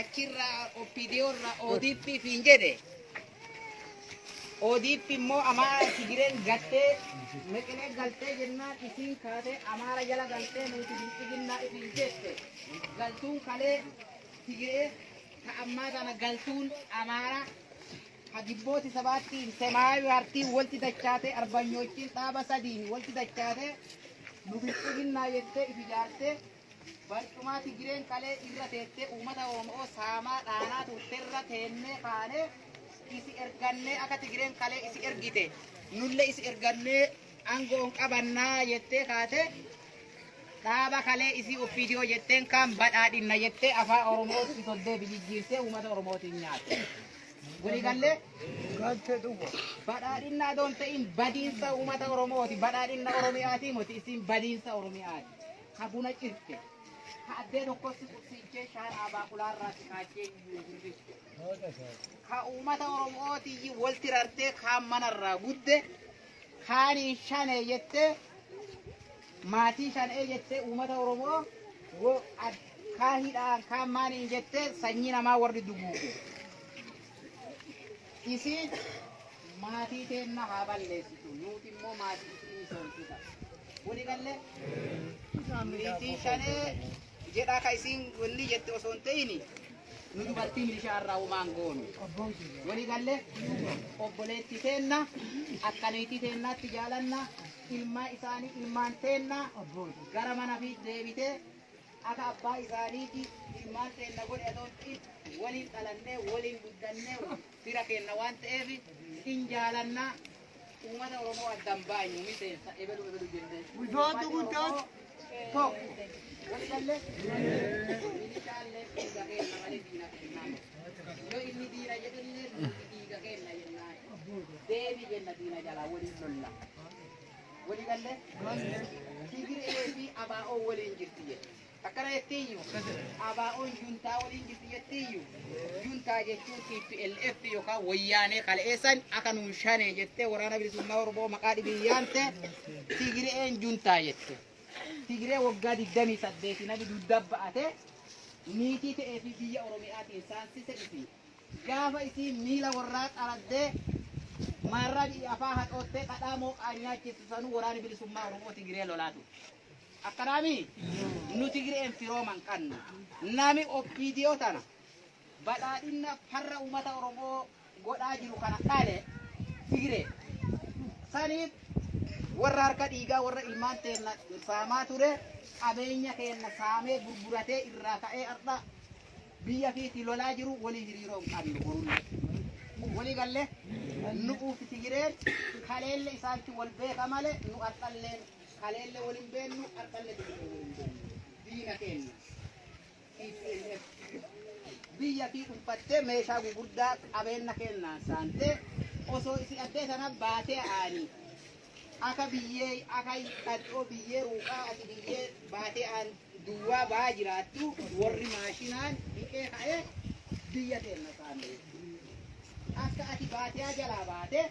achirra OPDO irra ODP fiin jedhe ODP immoo Amaara Tigireen gattee meqinee galtee jennaan isiin kaatee Amaara jala galtee nuti bilxiginnaa isin jette galtuun kalee Tigiree ta ammaa tana galtuun Amaara ha gibbooti sabaattiin semaayu hartiin walti dachaatee arbanyoochin dhaaba sadiin walti dachaatee nu bilxiginnaa jettee ifi jaartee Barcumaa Tigireen kalee irra teettee uummata Oomo'oo saamaa dhaanaa turte irra teennee kaanee isi ergannee akka Tigireen kalee isi ergite nulle isi ergannee aangoon qabannaa jettee kaate dhaaba kalee isii oppiidiyoo jetteen kaan badhaadhinna jettee afaa Oromootti soddee bijijjiirtee uummata Oromootiin nyaate. Waliigallee Galtee dhuga. badhaadhinna adoon ta'in badiinsa uummata Oromooti badhaadhinna Oromiyaatii moti isin badiinsa Oromiyaati. ka buna cirte, ka addee tokkotti qubsiichee shaanaa baaqulaa irraa xiqaachee iyyuu hirrifte, ka uummata Oromootii walti rartee kaan mana irraa gudde, kaan hin shanee jettee maatii shanee jettee uummata Oromoo wo- ad- kaan hidhaan kaan maaliin jettee sanyii namaa warri duguuge. Isiin Maatii teenna haa balleessitu, nuuti immoo maatii isii misoomsita. Wali galle? Niitii shanee jedhaa ka isiin wanni jette osoo hin ta'ini nu dubartii milishaa irraa umaan goonu. Wali galle? Obboleetti teenna akka niitii teennaatti jaalanna ilmaa isaanii ilmaan teenna gara mana fi deebitee akka abbaa isaaniiti ilmaan teenna godhe osoo hin ta'in waliin dhalannee waliin guddannee fira keenna waan ta'eef hin jaalanna uummata oromoo addan baanyu miseensa ebelu ebelu jenne Guddaatu guddaatu tokko. Wali galle? Inni caalle dhiiga keenna malee diina kennaa. Yoo inni diina jedhullee nuti dhiiga keenna jennaa. Deebi jenna diina jalaa waliin lolla. Wali galle? Tigiree fi abaa'oo waliin jirti jedhe. Akkana jettiiyyu ABOn juntaa waliin jirti jettiiyyu juntaa jechuun TPLF yookaan wayyaanee kaleessan akka nuun shanee jettee waraana bilisummaa Oromoo maqaa dhibiin yaamte Tigireen juntaa jette. Tigiree waggaa 28 nabi dugda ba'ate niitii ta'ee fi biyya Oromiyaatiin saansise isi. Gaafa isii miila warraa xaraddee maarraa biyya afaa hadhoottee dhadhaa mooqaa nyaachistu sanuu waraana bilisummaa Oromoo Tigiree lolaatu. Akkanaamii nu Tigireen firooman qanna. Nami OPDO tana badhaadhinna farra uumata Oromoo godhaa jiru kana dhale Tigiree. Saniif warra harka dhiigaa warra ilmaan teenna saamaa ture qabeenya keenna saamee gurguratee irraa ka'ee har'a biyya fiiti lolaa jiru walii hiriiroo hin qabnu borullee. Walii galle nu'uuf Tigireen kaleelle isaantu wal beeka malee nu har'alleen Kaleelle wal hin beennu, har'alle deebinee wal hin beennu. Diina keenna. TPLF. Biyya tii dhunfattee meeshaa gugurdaa qabeenna keennaan saantee osoo isi addee sana baatee aanii. Aka biyyee aka dhadhoo biyyee ruuqaa ati biyyee baatee aan duwwaa ba'aa jiraattu warri maashinaan dhiqee ka'ee biyya keenna saamee. Akka ati baatiyaa jalaa baate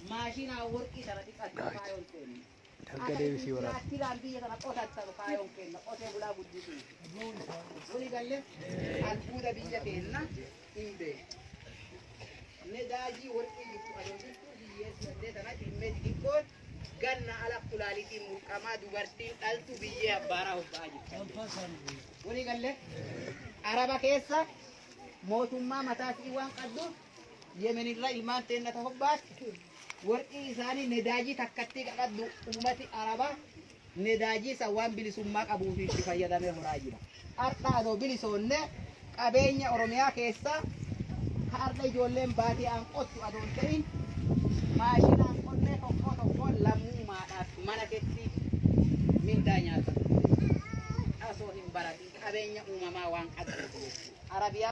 maashinaa warqii sana dhiqattu kaayoon keenna. Harka deebisii waraana. Aktiiraan biyya kana qotatan kaayoon keenya qotee bulaa guddisuun. Wali galle albuuda biyya keenya hin beeku. Nedaajii warqii jirtu adoo jirtu biyyee sudhattee sana dhimmee xixiqqoon ganna ala kulaalitiin mulqamaa dubartiin dhaltu biyyee abbaaraa hobba'aa jirti. Wali galle araba keessa mootummaa mataatii waan qabduuf Yemen irra ilmaan teenna ta hobbaatti warqii isaanii nedaajii takkattii qaqaddu ummati arabaa nedaajii san waan bilisummaa qabuufi itti fayyadamee horaa jira. Har'a adoo bilisoonne qabeenya Oromiyaa keessaa ka har'a ijoolleen baadiyaan qottu adoo hin ta'in maashinaan qonnee tokkoo tokkoon lammummaadhaaf mana keetti mindaa nyaata. Asoo hin baratin qabeenya uumamaa waan qabdu. Arabiyaa